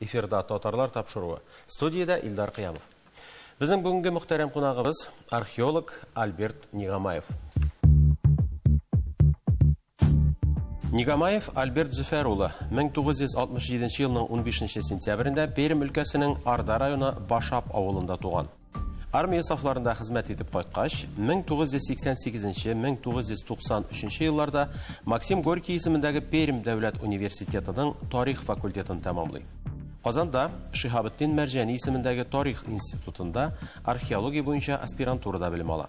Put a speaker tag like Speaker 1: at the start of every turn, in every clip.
Speaker 1: Эфирда Татарлар тапшыруы. Студиядә Илдар Кыямов. Безнең бүгенге мөхтәрәм кунагыбыз археолог Альберт Нигамаев. Нигамаев Альберт Зөфәр улы 1967 елның 15 сентябрендә Пермь өлкәсенең Арда районы Башап авылында туган. Армия сафларында хезмәт итеп кайткач, 1988-1993 елларда Максим Горький исемендәге Пермь дәүләт университетының тарих факультетын тәмамлый. Казанда Шиһабетдин Мәрҗәни исемендәге тарих институтында археология буенча аспирантурада белем ала.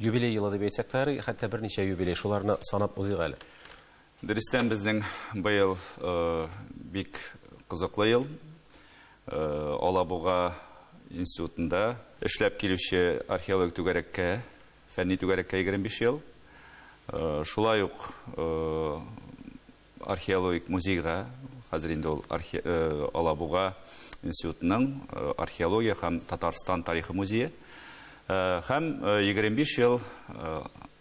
Speaker 1: Юбилей елы дип әйтсәк тә ярый, хәтта берничә юбилей, шуларны санап узыйк әле. Дөрестән,
Speaker 2: безнең быел бик кызыклы ел. Алабуга институтында эшләп килүче археологик түгәрәккә, фәнни түгәрәккә 25 ел. Шулай ук Археологик музейга, хәзер инде ул Алабуга институтының археология һәм Татарстан тарихы музее, һәм 25 ел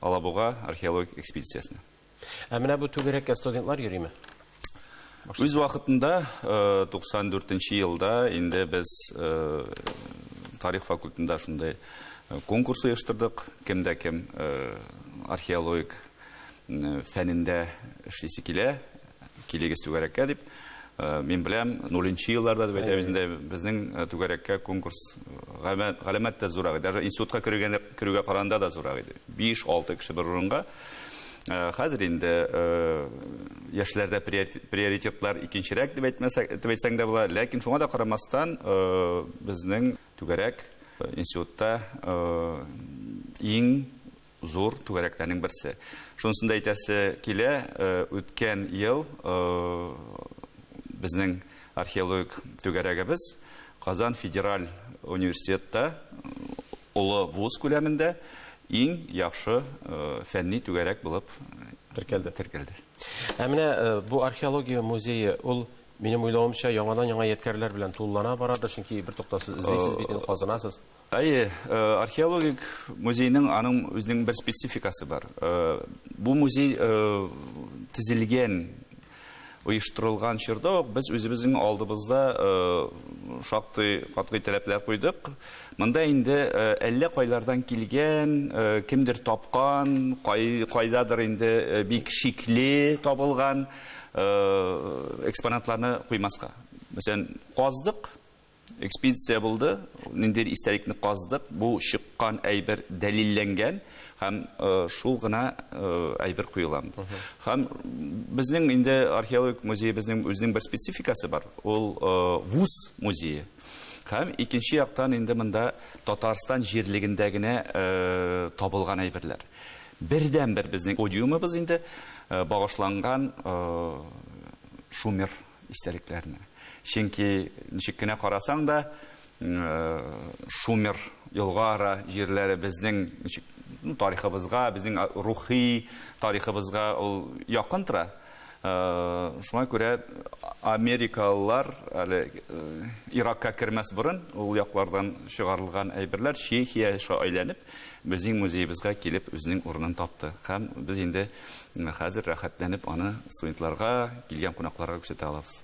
Speaker 2: Алабуга археологик экспедициясенә. Ә менә бу
Speaker 1: түгәрәккә студентлар йөриме?
Speaker 2: Үз вакытында 94 нче елда инде без тарих факультетында шундый конкурс оештырдык, кемдә кем археологик фәнендә эшлисе килә, килегез түгәрәккә дип. Э, мин беләм, нуленче елларда дип әйтәбез инде, безнең э, түгәрәккә конкурс галәмәт тә зурак иде. Даже институтка керүгә, керүгә каранда да зурак иде. 5-6 кеше бер урынга. Э, хәзер инде яшьләрдә приоритетлар икенчерәк дип әйтмәсәк, дип әйтсәң дә була, ләкин шуңа да карамастан безнең түгәрәк институтта иң зур түгәрәкләрнең берсе. Шунысын да әйтәсе килә, э, үткән ел э, безнең археологик түгәрәгебез Казан федераль университетта олы вуз күләмендә иң яхшы э, фәнни түгәрәк булып теркәлде. теркәлде. Ә менә
Speaker 1: э, бу археология музее ул минем уйлавымча яңадан яңа ядкәрләр белән тулылана барадыр, чөнки бер токтасыз эзлисез бит, э, казынасыз. Әйе,
Speaker 2: археологик музейның аның үзенең бер спецификасы бар. Бу музей тезелгән, оештырылган чорда ук без үзебезнең алдыбызда шактый катгый таләпләр куйдык. Монда инде әллә кайлардан килгән, кемдер тапкан, кайдадыр инде бик шикле табылган экспонатларны куймаска. Мәсәлән, каздык, Экспедиция булды, ниндидер истәлекне каздык, бу чыккан әйбер дәлилләнгән һәм э, шул гына э, әйбер куела. Һәм безнең инде археологик музеебезнең үзенең бер спецификасы бар, ул э, вуз музее. Һәм икенче яктан инде монда Татарстан җирлегендә генә э, табылган әйберләр. Бердәнбер безнең подиумыбыз инде э, багышланган э, Шумер истәлекләрне. Чөнки ничек кенә карасаң да, Шумер елгара җирләре безнең ничек ну, тарихыбызга, безнең рухи тарихыбызга ул якын тора. Шуңа күрә америкалылар әле Иракка кермәс борын ул яклардан чыгарылган әйберләр Чехия аша әйләнеп Безнең музеебызга килеп үзенең урынын тапты. Һәм без инде хәзер рәхәтләнеп аны студентларга, килгән кунакларга күрсәтә алабыз.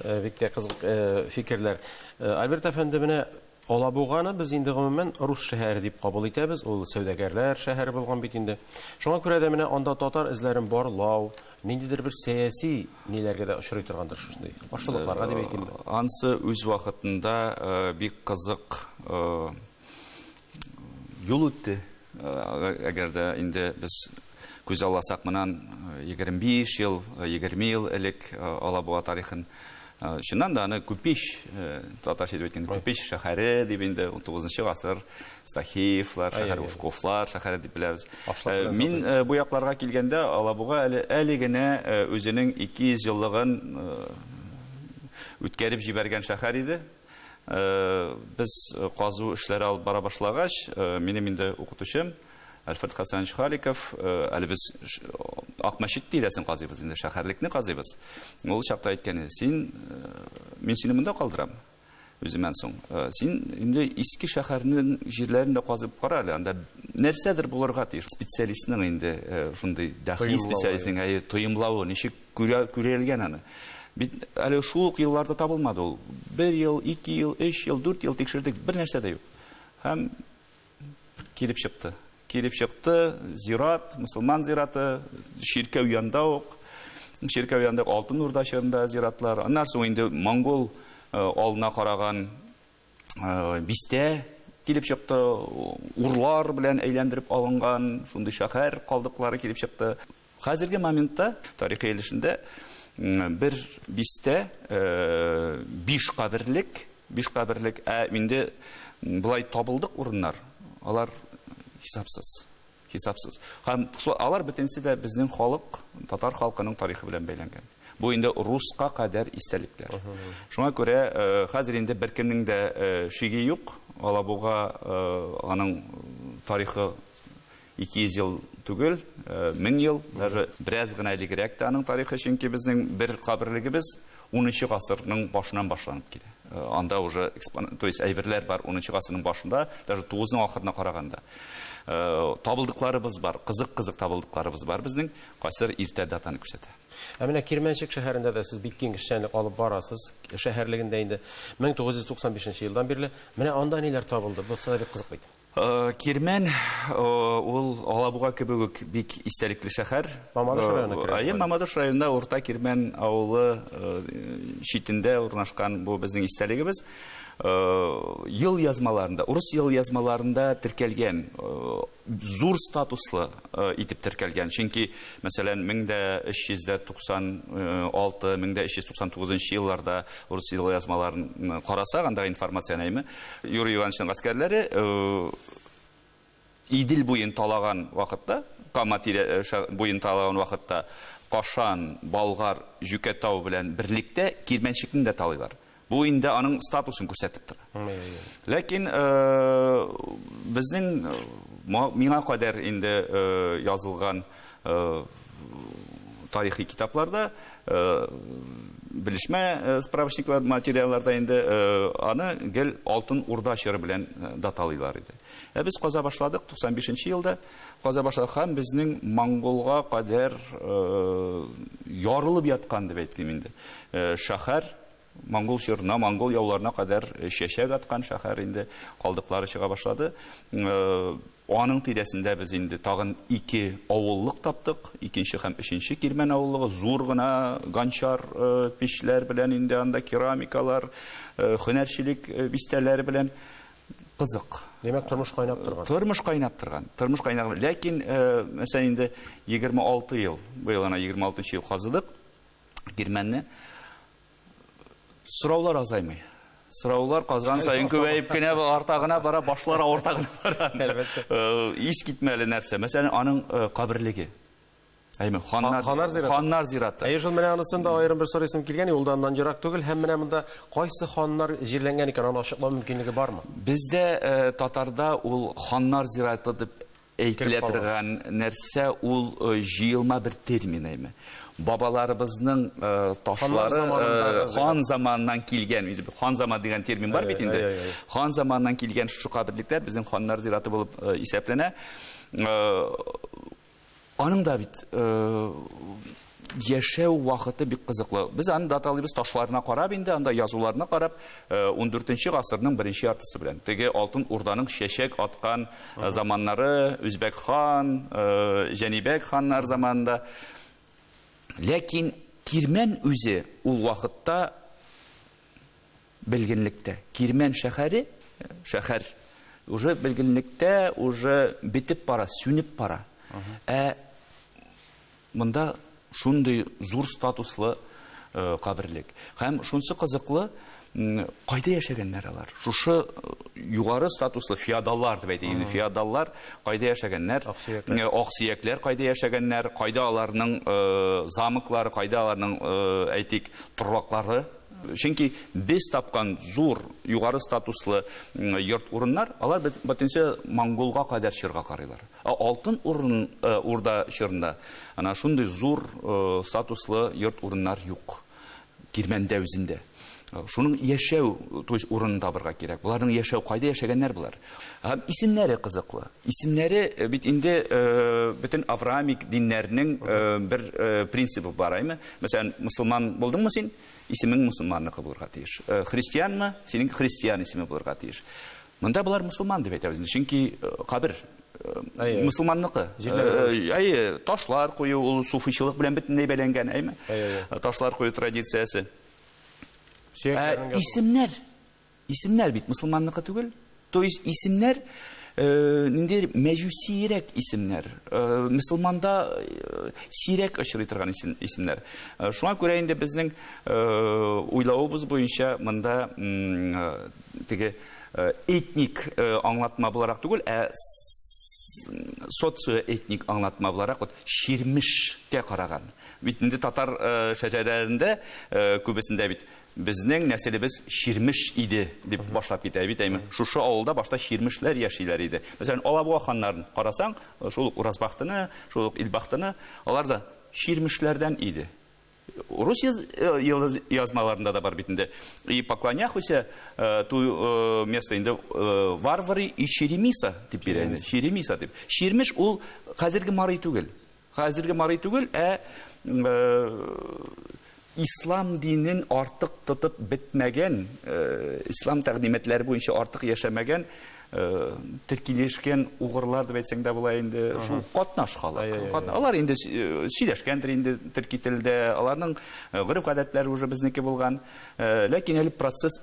Speaker 2: Э, бик тә
Speaker 1: кызык э, фикерләр. Э, Альберт әфәнде, менә Алабуганы без инде гомумән рус шәһәре дип кабул итәбез. Ул сәүдәгәрләр шәһәре булган бит инде. Шуңа күрә дә менә анда татар эзләрен барлау, ниндидер бер сәяси ниләргә дә очрый торгандыр шушындый. Каршылыкларга дип әйтимме? Ансы үз
Speaker 2: вакытында бик кызык Юл үтте. Әгәр дә инде без күз алласак монан 25 ел, 20 ел элек Алабуга тарихын Чыннан да аны Күпич, татарча итеп әйткәндә, Күпич шәһәре дип инде 19 гасыр Стахиевлар шәһәре, Ушковлар шәһәре дип беләбез. Мин бу якларга килгәндә Алабуга әле әле генә үзенең 200 еллыгын үткәреп җибәргән шәһәр иде. Без казу эшләре алып бара башлагач, минем инде укытучым Альфред Хасанович Халиков, әле без Акмәчет тирәсен казыйбыз инде, шәһәрлекне казыйбыз. Ул чакта әйткән иде, син, мин сине монда калдырам, үземнән соң. Син инде иске шәһәрнең җирләрен дә казып кара әле, анда нәрсәдер булырга тиеш. Специалистның инде шундый дәхи специалистның тоемлавы ничек Күрә, күрелгән аны. Бит әле шул ук елларда табылмады ул. Бер ел, ике ел, өч ел, дүрт ел тикшердек, бер нәрсә дә юк. Һәм килеп чыкты. Килеп чыкты, зират, мөселман зираты, чиркәү янда ук. Чиркәү янда ук Алтын Урда чорында зиратлар. Аннан соң инде монгол э, алына караган э, бистә килеп чыкты, урлар белән әйләндереп алынган шундый шәһәр калдыклары килеп чыкты. Хәзерге моментта тарихи өлешендә бер бистә э, биш каберлек, биш каберлек, ә инде былай табылдык урыннар, алар хисапсыз. Хисапсыз. Һәм алар бөтенесе дә безнең халык, татар халкының тарихы белән бәйләнгән. Бу инде русска кадәр истәлекләр. Шуңа күрә хәзер инде беркемнең дә шиге юк, Алабуга аның тарихы 200 ел түгел, 1000 ел, даже бераз гына элегрәк тә аның тарихы, чөнки безнең бер каберлегебез Унынчы гасырның башыннан башланып килә. Анда уже экспонат, то есть әйберләр бар унынчы гасырның башында, даже тугызның ахырына караганда. Табылдыкларыбыз бар, кызык-кызык табылдыкларыбыз бар безнең, кайсылары иртә датаны күрсәтә. Ә менә Кирмәнчек
Speaker 1: шәһәрендә дә сез бик киң эшчәнлек алып барасыз, шәһәрлегендә инде 1995 елдан бирле. Менә анда ниләр табылды? Бу сиңа бик кызык бит. Кирмән
Speaker 2: ул Алабуга кебек үк бик истәлекле шәһәр. Мамадыш районы керә.
Speaker 1: Әйе, Мамадыш районында Урта
Speaker 2: Кирмән авылы читендә урнашкан бу безнең истәлегебез. Ел язмаларында, урыс ел язмаларында теркәлгән, зур статуслы итеп теркәлгән. Чөнки, мәсәлән, 1396-1399 елларда урыс ел язмаларын карасак, андагы информацияне, әйме? Юрий Ивановичның гаскәрләре Идел буен талаган вакытта, Кама тирә буен талаган вакытта Кашан, Болгар, Җүкәтау белән берлектә Кирмәнчекне дә талыйлар. Бу инде аның статусын күрсәтеп тора. Ләкин безнең миңа кадәр инде язылган тарихи китапларда, белешмә справочниклар материалларда инде аны гел Алтын Урда чоры белән даталыйлар иде. Ә без каза башладык 95 елда. Каза башладык һәм безнең монголга кадәр ярылып яткан дип әйтим инде. Шәһәр Монгол чорына, монгол яуларына кадәр чәчәк аткан шәһәр инде калдыклары чыга башлады. Аның тирәсендә без инде тагын ике авыллык таптык. Икенче һәм өченче Кирмән авыллыгы зур гына ганчар печләр белән инде анда керамикалар, һөнәрчелек бистәләре белән кызык. Димәк, тормыш
Speaker 1: кайнап торган. Тормыш кайнап торган.
Speaker 2: Тормыш кайнап. Ләкин, мәсәлән, инде 26 ел, быел ана 26 ел казыдык. кирмәнне. Сораулар азаймый. Сораулар казган саен күбәеп кенә арта гына бара, башлар авырта гына бара. Әлбәттә. Э, ис китмәле нәрсә. Мәсәлән, аның э, каберлеге. Әйме, ханнар, ханнар зираты. Ханнар зираты. Әйе, шул менә анысын да
Speaker 1: аерым бер сорыйсым килгән, ул да аннан ерак түгел, һәм менә монда кайсы ханнар җирләнгән икән, аны ачыклау мөмкинлеге бармы? Бездә э,
Speaker 2: татарда ул ханнар зираты дип Әйтелә торган нәрсә ул җыелма бер термин әйме. Бабаларыбызның ташлары хан заманыннан килгән, хан заман дигән термин бар бит инде. Хан заманыннан килгән шушы каберлекләр безнең ханнар зираты булып исәпләнә. Аның да бит Яшәү вакыты бик кызыклы. Без аны даталыйбыз ташларына карап инде, анда язуларына карап, 14 нче гасырның беренче яртысы белән. Теге Алтын Урданың чәчәк аткан заманнары, Үзбәк хан, Җәнибәк ханнар заманында. Ләкин Кирмән үзе ул вакытта белгенлектә. Кирмән шәһәре, шәһәр уже белгенлектә, уже бетеп бара, сүнеп бара. Ә Монда шундый зур статуслы каберлек. Һәм шунсы кызыклы, кайда яшәгәннәр алар? Шушы югары статуслы феодаллар дип әйтик инде, феодаллар кайда яшәгәннәр? Аксөякләр кайда яшәгәннәр? Кайда аларның замоклары, кайда аларның, әйтик, торбаклары? Чөнки без тапкан зур, югары статуслы йорт-урыннар, алар бөтенесе монголга кадәр чорга карыйлар. Ә Алтын Урда чорында ана шундый зур статуслы йорт-урыннар юк Кирмәндә үзендә. Шуның яшәү, то есть урынын табырга кирәк. Боларның яшәү, кайда яшәгәннәр болар? Һәм исемнәре кызыклы. Исемнәре бит инде бөтен авраамик диннәрнең бер принцибы бар, әйме? Мәсәлән, мосылман булдыңмы син, исемең мосылманныкы булырга тиеш. Христианмы, синең христиан исеме булырга тиеш. Монда болар мусулман дип әйтәбез инде, чөнки кабер мусулманныкы. Әйе, ташлар кую ул суфичылык белән бөтенләй бәйләнгән, әйме? Ташлар кую традициясе. Ә исемнәр, исемнәр бит мусулманныкы түгел. То есть исемнәр ниндидер мәҗүсиерәк исемнәр. Мусулманда сирәк очрый торган исемнәр. Шуңа күрә инде безнең уйлавыбыз буенча монда теге этник аңлатма буларак түгел, ә социоэтник аңлатма буларак вот чирмешкә караган. Бит инде татар шәҗәрәләрендә күбесендә бит безнең нәселебез чирмеш иде дип башлап китә бит. Әйме, шушы авылда башта чирмешләр яшиләр иде. Мәсәлән, Алабуга ханнарын карасаң, шул ук Уразбахтыны, шул ук Илбахтыны, алар да чирмешләрдән иде. Рус язмаларында да бар бит инде. И поклоняхуся э, ту э, место инде э, варвары и черемиса дип бирә инде. Черемиса дип. Чермеш ул хәзерге марый түгел. Хәзерге марый түгел, ә ислам динен артык тотып бетмәгән, ислам тәкъдимәтләре буенча артык яшәмәгән теркилешкән угырлар дип әйтсәң дә була инде шул катнаш халык алар инде сөйләшкәндер инде төрки телдә аларның гореф гадәтләре уже безнеке булган ләкин әле процесс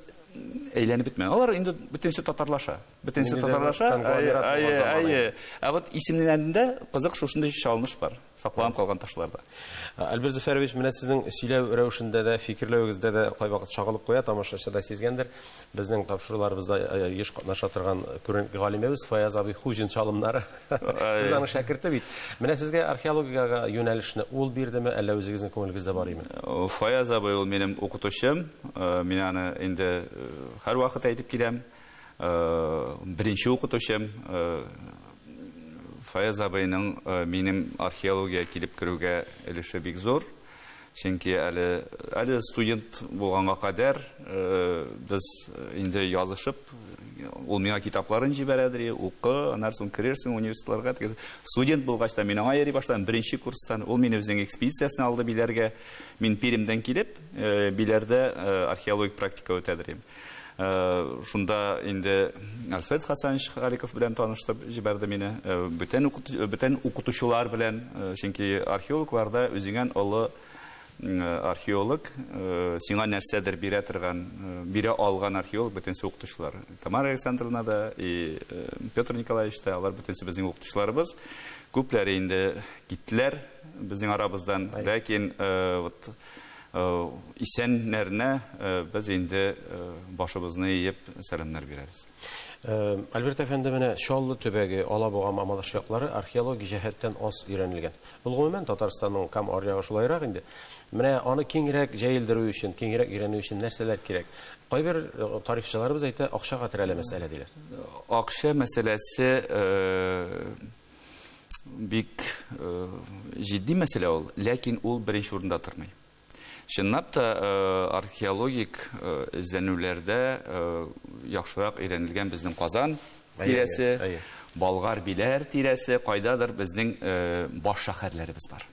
Speaker 2: әйләнеп бетмәгән алар инде бөтенесе татарлаша бөтенесе татарлаша ә вот исемнәрендә кызык шушындый чалыныш бар Сакланып калган ташлар да. Альберт Зөфәрович,
Speaker 1: менә сезнең сөйләү рәвешендә дә, фикерләвегездә дә кайвакыт чагылып куя, тамашачы да сизгәндер. Безнең тапшыруларыбызда еш катнаша торган күренекле галимебез Фаяз абый Хуҗин чалымнары. Сез аның шәкерте бит. Менә сезгә археологиягә юнәлешне ул бирдеме, әллә үзегезнең күңелегездә бар име? Фаяз абый ул
Speaker 2: минем укытучым. Мин аны инде һәрвакыт әйтеп киләм. Беренче укытучым Фаяз абыйның минем археологиягә килеп керүгә өлеше бик зур. Чөнки әле, әле студент булганга кадәр без инде язышып, ул миңа китапларын җибәрә, ди, укы, аннары соң керерсең университетларга. Студент булгач та мин аңа йөри башладым, беренче курстан. Ул мине үзенең экспедициясенә алды Биләргә. Мин Пермьдән килеп, Биләрдә археологик практика үтә, ди. Э, шунда инде Альфред Хасанович Халиков белән таныштырып җибәрде мине. Э, бөтен бөтен укытучылар белән, э, чөнки археологларда үзеңнән олы археолог, сиңа нәрсәдер бирә торган, бирә алган археолог бөтенсе укытучылар. Тамара Александровна да и Петр Николаевич та алар бөтенсе безнең укытучыларыбыз. Күпләре инде киттеләр безнең арабыздан, ләкин вот Исәннәренә без инде башыбызны иеп сәламнәр бирәбез. Альберт
Speaker 1: әфәнде, менә Чаллы төбәге, Алабуга, Мамадыш яклары археологик җәһәттән аз өйрәнелгән. Ул гомумән Татарстанның кам аръягы шулайрак инде. Менә аны киңрәк җәелдерү өчен, киңрәк өйрәнү өчен нәрсәләр кирәк? Кайбер тарихчыларыбыз әйтә, акчага терәлә мәсьәлә, диләр. Акча
Speaker 2: мәсьәләсе бик э, җитди мәсьәлә ул, ләкин ул беренче урында тормый. Чынлап та э, археологик э, эзләнүләрдә яхшырак өйрәнелгән безнең Казан тирәсе, Болгар биләр тирәсе, кайдадыр безнең баш шәһәрләребез бар.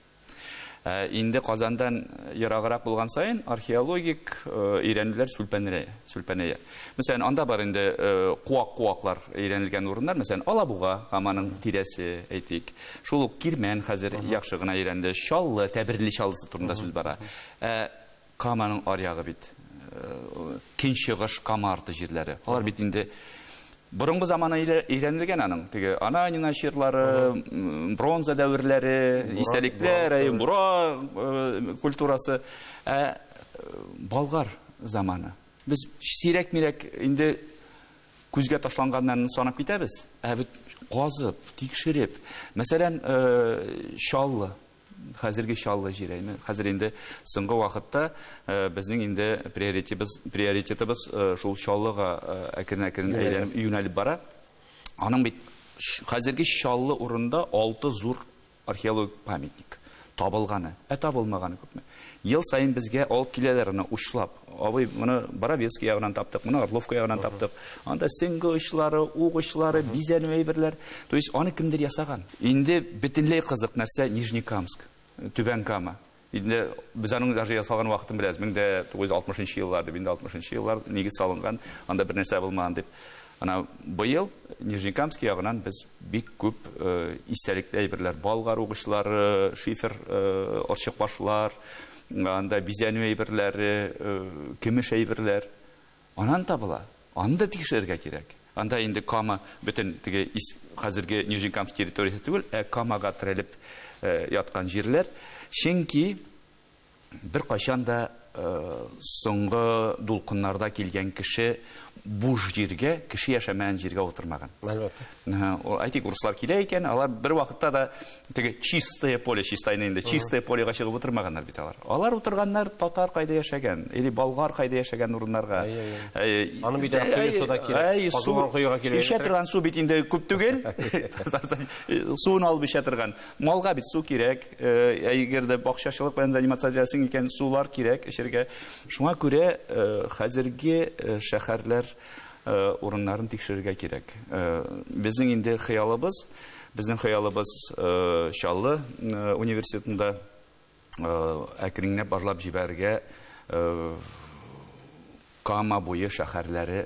Speaker 2: Ә инде Казандан ераграк булган саен археологик өйрәнүләр сүлпәнрә, сүлпәнәя. Мәсәлән, анда бар инде куак-куаклар өйрәнелгән урыннар, мәсәлән, Алабуга һәм аның тирәсе, әйтик. Шул ук Кирмән хәзер яхшы гына өйрәнелде. Чаллы, Тәберли Чаллысы турында сүз бара. Ә Каманың аръягы бит көнчыгыш Кама арты җирләре. Алар бит инде борынгы замана өйрәнелгән аның. Теге Ананина чирлары, бронза дәверләре, истәлекләр, Бура э, культурасы. Ә э, Болгар заманы. Без сирәк-мирәк инде күзгә ташланганнан санап китәбез. Ә бит казып, тикшереп, мәсәлән, э, Чаллы Хәзерге Чаллы җиләеме? Хәзер инде соңгы вакытта безнең инде приоритетыбыз, приоритетыбыз шул Чаллыга әкрен-әкрен әйләнеп юнәлеп бара. Аның бит хәзерге Чаллы урында алты зур археологик памятник табылганы, ә табылмаганы күпме? Ел саен безгә алып киләләр аны учлап. Абый, моны Боровецкий ягыннан таптык, моны Орловка ягыннан таптык. Анда сеңге очлары, ук очлары, бизәнү әйберләр. То есть аны кемдер ясаган. Инде бөтенләй кызык нәрсә Нижнекамск, Түбән Кама. Инде без аның даже ясалган вакытын беләбез. 1960 нчы еллар дип, инде 60 нчы еллар нигез салынган, анда бернәрсә булмаган дип. Менә быел Нижнекамский ягыннан без бик күп истәлекле әйберләр, болгар угычлары, шифер орчыкбашлар, анда бизәнү әйберләре, көмеш әйберләр аннан табыла. Аны да тикшерергә кирәк. Анда инде Кама бөтен теге хәзерге Нижнекамск территориясе түгел, ә Камага терәлеп яткан җирләр. Чөнки Беркайчан да соңгы дулкыннарда килгән кеше буш җиргә, кеше яшәмәгән җиргә утырмаган. Әлбәттә.
Speaker 1: Әйтик,
Speaker 2: урыслар килә икән, алар бер вакытта да теге чистое поле, чистайны инде, чистое полега чыгып утырмаганнар бит алар. Алар утырганнар татар кайда яшәгән, или болгар кайда яшәгән урыннарга. Аны
Speaker 1: бит әй суда кирәк, казылган коега килә. Ишә торган су бит инде
Speaker 2: күп түгел. Суын алып ишә торган. Малга бит су кирәк, әгәр дә бакчачылык белән заниматься итәсең икән, сулар кирәк эчергә. Шуңа күрә хәзерге шәһәрләр урыннарын тикшерергә кирәк. Безнең инде хыялыбыз, безнең хыялыбыз Чаллы университетында әкренләп барлап җибәрергә Кама буе шәһәрләре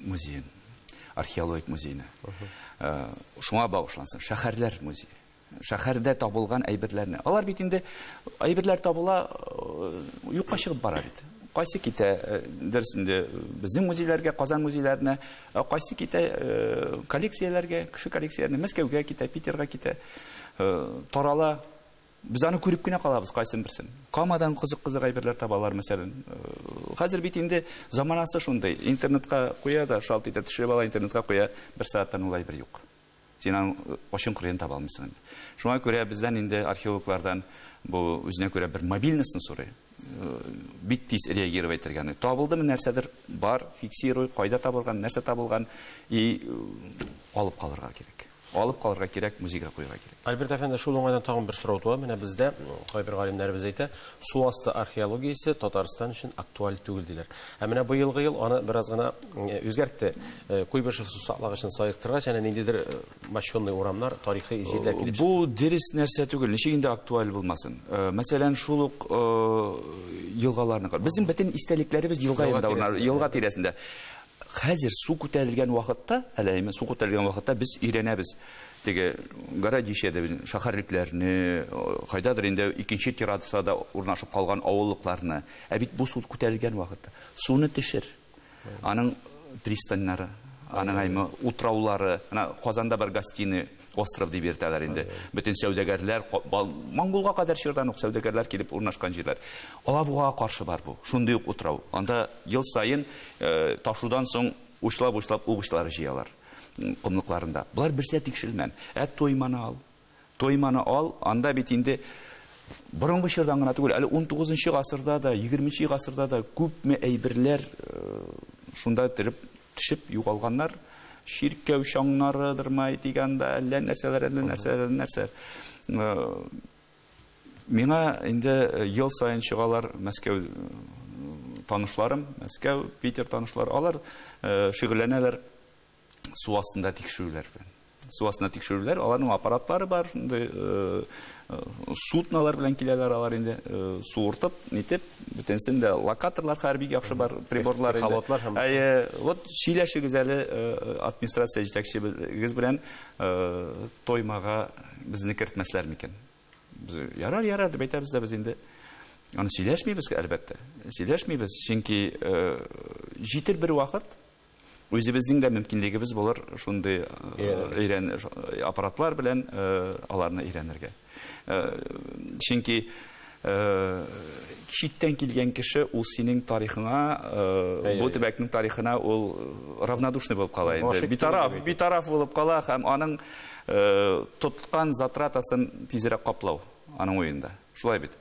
Speaker 2: музеен, археологик музейны. Шуңа багышлансын, шәһәрләр музее. Шәһәрдә табылган әйберләрне. Алар бит инде әйберләр табыла, юкка чыгып бара бит. Кайсы китә, дөресендә, безнең музейларга, Казан музейларына Ә кайсы китә коллекцияләргә, кеше коллекцияләренә, Мәскәүгә китә, Питерга китә, тарала. Без аны күреп кенә калабыз кайсын берсен. Камадан кызык-кызык әйберләр табалар, мәсәлән. Хәзер бит инде заманасы шундый, интернетка куя да шалт итә, төшереп ала, интернетка куя, бер сәгатьтән ул әйбер юк. Син аның очын кырыен таба алмыйсың инде. Шуңа күрә бездән инде археологлардан бу үзенә күрә бер мобильностьны сорый. Бик тиз реагировать итәргә. Табылдымы нәрсәдер бар, фиксируй, кайда табылган, нәрсә табылган и алып калырга кирәк. Алып калырга кирәк, музейга куярга кирәк. Альберт әфәнде, шул уңайдан
Speaker 1: тагын бер сорау туа. Менә бездә кайбер галимнәребез әйтә, су асты археологиясе Татарстан өчен актуаль түгел диләр. Ә менә быелгы ел аны бераз гына үзгәртте. Куйбышев сусаклагычын саектыргач, әнә ниндидер мощенный урамнар, тарихи җирләр килеп чыкты. Бу дөрес нәрсә
Speaker 2: түгел, ничек инде актуаль булмасын. Мәсәлән, шул ук елгаларны кар. Безнең бөтен истәлекләребез елга янында, елга тирәсендә. Хәзер су күтәрелгән вакытта, әле әйме су күтәрелгән вакытта без өйрәнәбез. Теге городище дә безнең шәһәрлекләрне, кайдадыр инде икенче террасада урнашып калган авыллыкларны. Ә бит бу суд күтәрелгән вакытта. Суны төшер. Аның пристаньнары, аның әйме утраулары, ана Казанда бар гостиный остров дип йөртәләр инде. Бөтен сәүдәгәрләр, Монголга кадәр чордан ук сәүдәгәрләр килеп урнашкан җирләр. Алабугага каршы бар бу, шундый ук утрау. Анда ел саен э, ташудан соң учлап-учлап угычлар җыялар комлыкларында. Болар берсә тикшерелмән. Ә Тойманы ал. Тойманы ал, анда бит инде борынгы чордан гына түгел, әле 19 гасырда да, 20 гасырда да күпме әйберләр шунда торып төшеп югалганнар. Чиркәү чаңнарыдырмы әйтик анда, әллә нәрсәләр, әллә нәрсәләр, әллә нәрсәләр. Миңа инде ел саен чыгалар Мәскәү танышларым, Мәскәү, Питер танышлар, алар шигырьләнәләр. су астында тикшерүләр белән. Су астында тикшерүләр, аларның аппаратлары бар, шундый э, э, суднолар белән киләләр алар инде, э, суыртып, нитеп, бөтенсен дә локаторлар хәзер бик яхшы бар, приборлар инде. Халатлар һәм... Әйе, вот сөйләшегез әле администрация җитәкчебез белән тоймага безне кертмәсләр микән? Без ярар, ярар дип әйтәбез дә без инде. Аны сөйләшмибез, әлбәттә. Сөйләшмибез, чөнки җитер бер вакыт, Үзебезнең дә мөмкинлегебез булыр шундый өйрән аппаратлар белән аларны өйрәнергә. Чөнки читтән килгән кеше ул синең тарихыңа, бу төбәкнең тарихына ул равнодушный булып кала инде. Битараф, битараф булып кала һәм аның тоткан затратасын тизрәк каплау аның уенда. Шулай бит.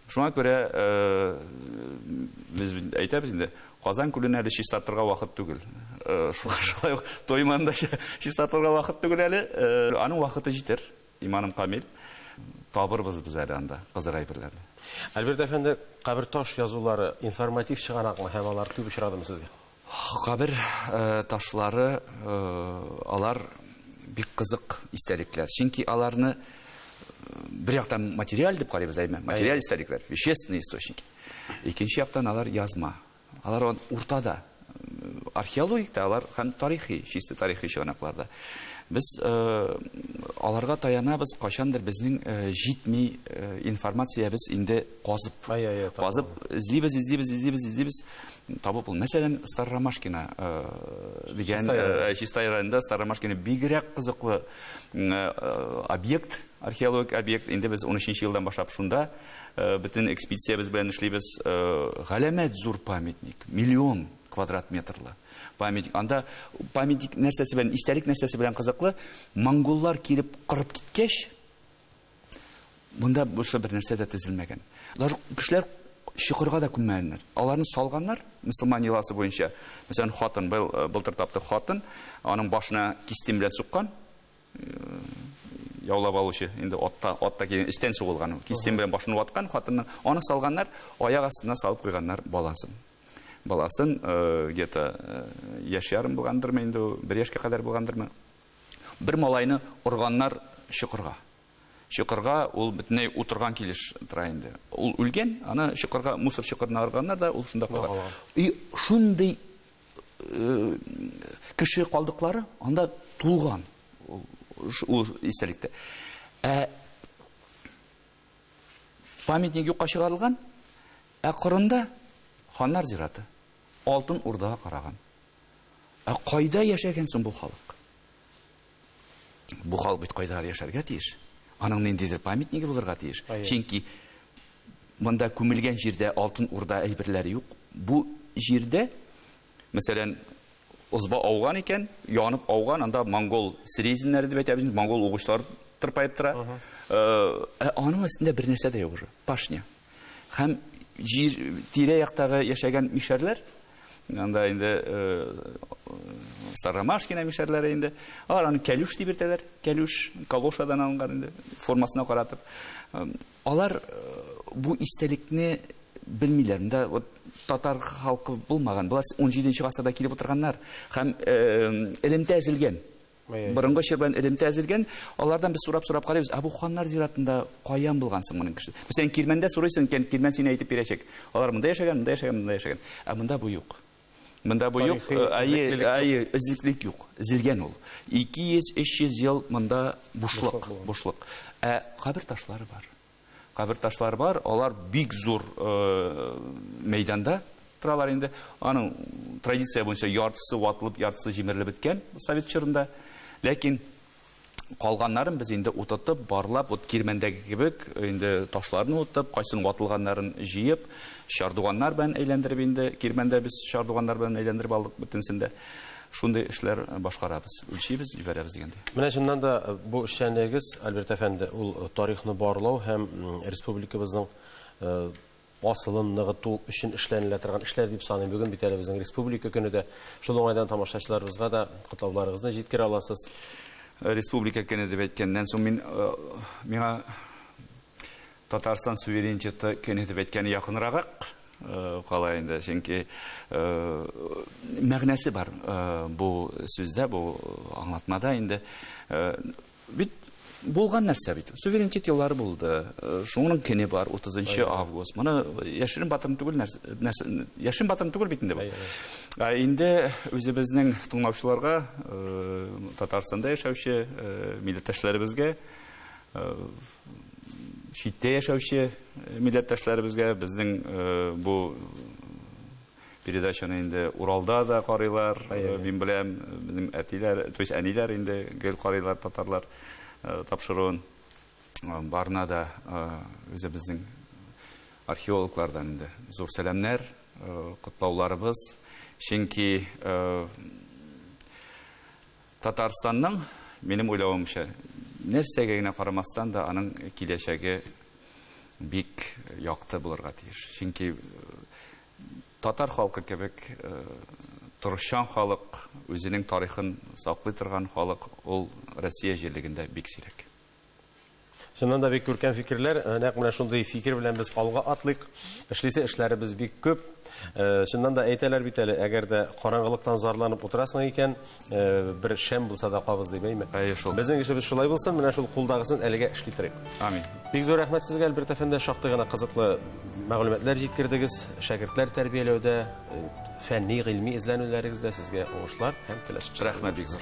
Speaker 2: Шуңа күрә без әйтәбез инде, Казан күлен әле чистартырга вакыт түгел. Шулай ук Тойманы да чистартырга вакыт түгел әле. Аның вакыты җитер, иманым камил. Табырбыз без әле анда кызык әйберләрне. Альберт әфәнде,
Speaker 1: каберташ язулары информатив чыганакмы һәм алар күп очрадымы сезгә? Кабер
Speaker 2: ташлары алар бик кызык истәлекләр. Чөнки аларны бер яктан материаль дип карыйбыз, әйме? Материаль истәлекләр, вещественные источники. Икенче яктан алар язма. Алар уртада. Археологик та алар һәм тарихи, чисто тарихи чыганакларда. Без аларга таянабыз, кайчандыр безнең җитми информациябез инде Казып, казып, эзлибез, эзлибез, эзлибез, эзлибез. Табып ул. Мәсәлән, Старромашкина э, дигән э, Чистай районында Старромашкина бигрәк кызыклы э, объект, археологик объект. Инде без 13 елдан башлап шунда бөтен экспедициябез белән эшлибез. Галәмәт зур памятник, миллион квадрат метрлы памятник. Анда памятник нәрсәсе белән, истәлек нәрсәсе белән кызыклы, монголлар килеп кырып киткәч, Монда бушта бер нәрсә дә тезелмәгән. Алар кешеләр чокырга да күммәгәннәр. Аларны салганнар мөселман йоласы буенча. Мәсәлән, хатын бел, э, былтыр тапты хатын, аның башына кистем белән суккан. Э, яулап алучы инде атта атта килгән истән сугылган. Кистем белән башын ваткан хатынны аны салганнар, аяк астына салып куйганнар баласын. Баласын э, где-то яшь ярым булгандырмы инде, бер яшькә кадәр булгандырмы? Бер малайны органнар чокырга. Чокырга ул бөтенләй утырган килеш тора инде. Ул үлгән, аны чокырга, мусор чокырына органнар да, ул шунда кала. И шундый э, кеше калдыклары анда тулган ул истәлектә. Ә памятник юкка чыгарылган, ә кырында ханнар зираты. Алтын урдага караган. Ә кайда яшәгән соң бу халык? Бу халык бит кайдадыр яшәргә тиеш. Аның ниндидер памятниге булырга тиеш. Чөнки монда күмелгән җирдә алтын урда әйберләре юк. Бу җирдә, мәсәлән, озба ауган икән, янып ауган, анда монгол срезиннәре дип әйтәбез, монгол угычлар тырпаеп тора. Ә аның өстендә бер нәрсә дә юк уже, пашня. Һәм җир тирә-яктагы яшәгән мишәрләр, Анда инде Старомашкина мишәрләре инде. Алар аны кәлүш дип йөртәләр. Кәлүш калошадан алынган инде, формасына каратып. Алар бу истәлекне белмиләр. Монда вот татар халкы булмаган. Болар 17 нче гасырда килеп утырганнар һәм элемтә әзелгән. Борынгы чор белән элемтә әзелгән. Алардан без сорап-сорап карыйбыз, ә бу ханнар зиратында каян булган соң моның кеше? Мәсәлән, Кирмәндә сорыйсың икән, Кирмән сине әйтеп бирәчәк. Алар монда яшәгән, монда яшәгән, монда яшәгән. Ә монда бу юк. Монда бу юк, әйе, эзлеклек юк. Эзелгән ул. 200-300 ел монда бушлык, бушлык. Ә кабер ташлары бар. Кабер ташлары бар, алар бик зур мәйданда торалар инде. Аның традиция буенча яртысы ватылып, яртысы җимерелеп беткән совет чорында. Ләкин калганнарын без инде утытып, барлап, вот кирмәндәге кебек, инде ташларны утып, кайсын ватылганнарын җыеп, чардуганнар белән әйләндереп инде, кирмәндә без чардуганнар белән әйләндереп алдык бөтенсен дә. Шундый эшләр башкарабыз, үлчибез, җибәрәбез дигәндәй. Менә чыннан да
Speaker 1: бу эшчәнлегегез, Альберт әфәнде, ул тарихны барлау һәм республикабызның асылын ныгыту өчен эшләнелә торган эшләр дип саныйм. Бүген бит әле безнең республика көне дә. Шул уңайдан тамашачыларыбызга да котлауларыгызны җиткерә аласыз. Республика
Speaker 2: көне дип әйткәннән соң мин миңа Татарстан суверенитеты көн итеп әйткәне якынрагак кала инде, чөнки мәгънәсе бар бу сүздә, бу аңлатмада инде. Бит булган нәрсә бит. Суверенитет еллары булды. Шуның көне бар, 30 август. Моны яшерен батырын түгел нәрсә, яшерен батырын түгел бит инде бу. Ә инде үзебезнең тыңлаучыларга, Татарстанда яшәүче милләттәшләребезгә читтә яшәүче э, милләттәшләребезгә безнең э, бу передачаны инде Уралда да карыйлар. Э, мин беләм, безнең әтиләр, то есть әниләр инде гел карыйлар татарлар тапшыруын. Барына да үзе безнең археологлардан инде зур сәламнәр, котлауларыбыз. Чөнки Татарстанның, минем уйлавымча, нәрсәгә генә карамастан да, аның киләчәге бик якты булырга тиеш. Чөнки э, татар халкы кебек э, торышчан халык, үзенең тарихын саклый торган халык ул Россия җирлегендә бик сирәк.
Speaker 1: Чыннан да бик күркәм фикерләр. Э, нәкъ менә шундый фикер белән без алга атлыйк. Эшлисе эшләребез бик күп. Э, чыннан да әйтәләр бит әле, әгәр дә караңгылыктан зарланып утырасың икән, э, бер шәм булса да кабыз дип әйме. Әйе шул. Безнең эшебез шулай булсын, менә шул кулдагысын әлегә эшли торыйк. Амин. Бик зур
Speaker 2: рәхмәт сезгә,
Speaker 1: Альберт әфәнде, шактый гына кызыклы мәгълүматлар җиткердегез. Шәкертләр тәрбияләүдә, фәнни, гыйльми эзләнүләрегездә сезгә уңышлар һәм теләсез. Рәхмәт бик зур.